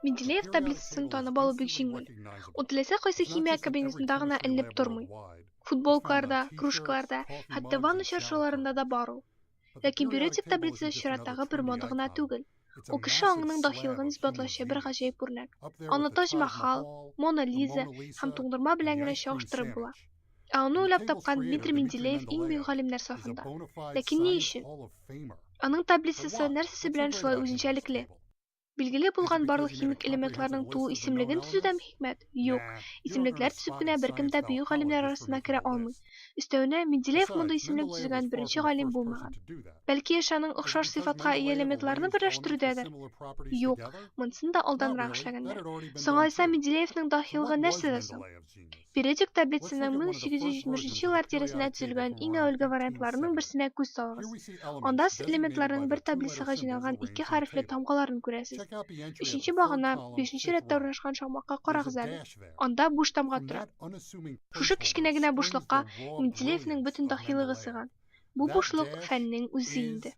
Менделеев таблицасын танып алу бик җиңел. Ул теләсә кайсы химия кабинетында гына эленеп тормый. Футболкаларда, кружкаларда, хәтта ванна чаршыларында да бар ул. Ләкин биоретик таблица чираттагы бер мода гына түгел. Ул кеше аңының дахилыгын исбатлаучы бер гаҗәеп үрнәк. Аны Тадж-Махал, Мона Лиза һәм туңдырма белән генә чагыштырып була. Ә аны уйлап тапкан Дмитрий Менделеев иң бөек галимнәр сафында. Ләкин ни өчен? Аның таблицасы нәрсәсе белән шулай үзенчәлекле? Билгеле булган барлык химик элементларның туу исемлеген төзү дә хикмәт? Юк. Исемлекләр төзеп кенә беркем дә бөек галимнәр арасына керә алмый. Өстәвенә, Менделеев мондый исемлек төзегән беренче галим булмаган. Бәлки эш аның охшаш сыйфатка ия элементларны берләштерүдәдер? Юк, монысын да алданрак эшләгәннәр. Соңалайса Менделеевның даһилыгы нәрсәдә соң? Периодик таблицаның 1870 еллар тирәсендә төзелгән иң әүвәлге вариантларының берсенә күз салыгыз. Анда сез элементларның бер таблицага җыйналган ике хәрефле тамгаларын күрәсез. Өченче багана, бишенче рәттә урнашкан шакмакка карагыз әле. Анда буш тамга тора. Шушы кечкенә генә бушлыкка Менделеевның бөтен даһилыгы сыйган. Бу бушлык, фәннең үзе инде.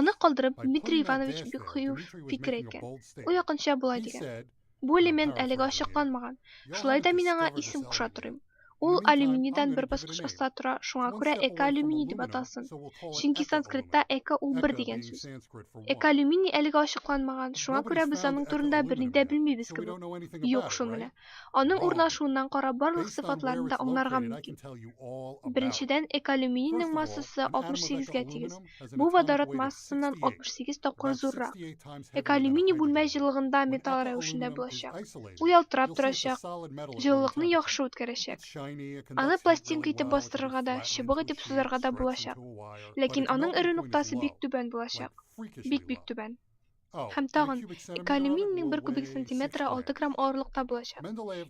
Аны калдырып, Дмитрий Иванович бик кыю фикер әйткән. Ул якынча болай дигән. Бу элемент әлегә ачыкланмаган. Шулай да мин аңа исем куша торыйм. Ул алюминийдан бер баскыч аста тора, шуңа күрә экоалюминий дип аталсын. Чөнки санскритта эко ул бер дигән сүз. Экоалюминий әлегә ачыкланмаган, шуңа күрә без аның турында берни дә белмибез кебек. Юк шул менә. Аның урнашуыннан карап барлык сыйфатларын да аңларга мөмкин. Беренчедән, экоалюминийның массасы 68 гә тигез. Бу водород массасыннан 68 тапкыр зуррак. Экоалюминий бүлмә җылылыгында металл рәвешендә булачак. Ул ялтырап торачак, җылылыкны яхшы үткәрәчәк. Аны пластинка итеп бастырырга да, чыбык итеп сузарга да булачак. Ләкин аның эрү ноктасы бик түбән булачак. Бик-бик түбән. Һәм тагын, экоалюминийның бер кубик сантиметры алты грамм авырлыкта булачак.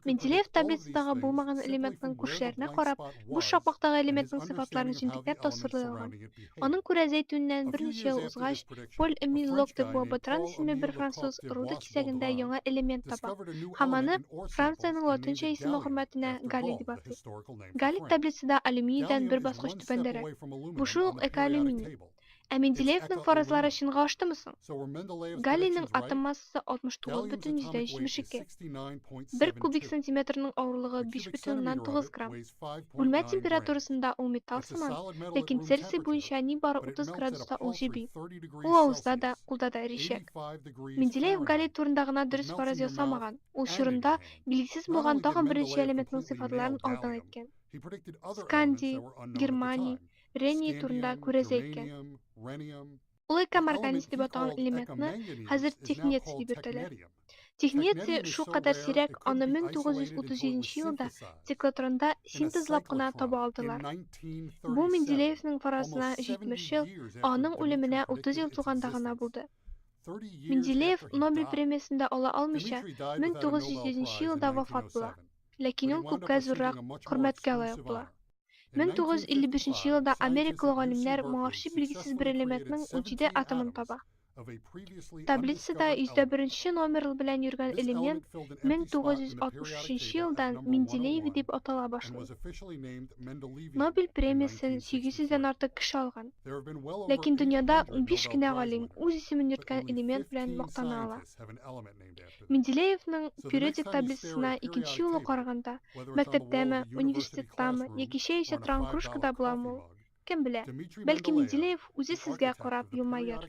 Менделеев таблицадагы булмаган элементның күршеләренә карап, буш шакмактагы элементның сыйфатларын җентекләп тасвирлый алган. Аның күрә зәйтүннән берничә ел узгач, Поль Эмиль Лок де Буа-Ботран исемле бер француз руда кисәгендә яңа элемент таба һәм аны, Франциянең латынча исеме хөрмәтенә, галлий дип атый. Галлий таблицада алюминийдан бер баскыч түбәндәрәк. Бу шул ук экоалюминий. Ә Менделеевның фаразлары чынга аштымы соң? Галлийның атом массасы 69,72. Бер кубик сантиметрның авырлыгы 5,9 грамм. Бүлмә температурасында ул металл сыман, ләкин Цельсий буенча нибары 30 градуста ул җеби. Ул авызда да, кулда да эричәк. Менделеев галлий турында гына дөрес фараз ясамаган, ул чорында билгесез булган тагын берничә элементның сыйфатларын алдан әйткән. Скандий, германий, рениий турында күрәзә әйткән. Ул экам организ дип аталган элементны хәзер технеций дип йөртәләр. Технеций шулкадәр сирәк, аны 1937 елда циклотронда синтезлап кына таба алдылар. Бу Менделеевның фаразына 70 ел, ә аның үлеменә 30 ел тулганда гына булды. Менделеев Нобель премиясен дә ала алмыйча, 1907 елда вафат була. Ләкин ул күпкә зуррак хөрмәткә лаек була. 1955 елда америкалы галимнәр моңарчы билгесез бер элементның унҗиде атомын таба. Таблицада йөздә беренче номер белән йөргән элемент 1963 елдан Менделееви дип атала башлый. Нобель премиясен 800 дән артык кеше алган. Ләкин дөньяда унбиш кенә галим үз исемен йөрткән элемент белән мактана ала. Менделеевның периодик таблицасына икенче юлы караганда, мәктәптәме, университеттамы, яки чәй эчә торган кружкада буламы ул? Кем белә. Бәлки Менделеев үзе сезгә карап елмаер.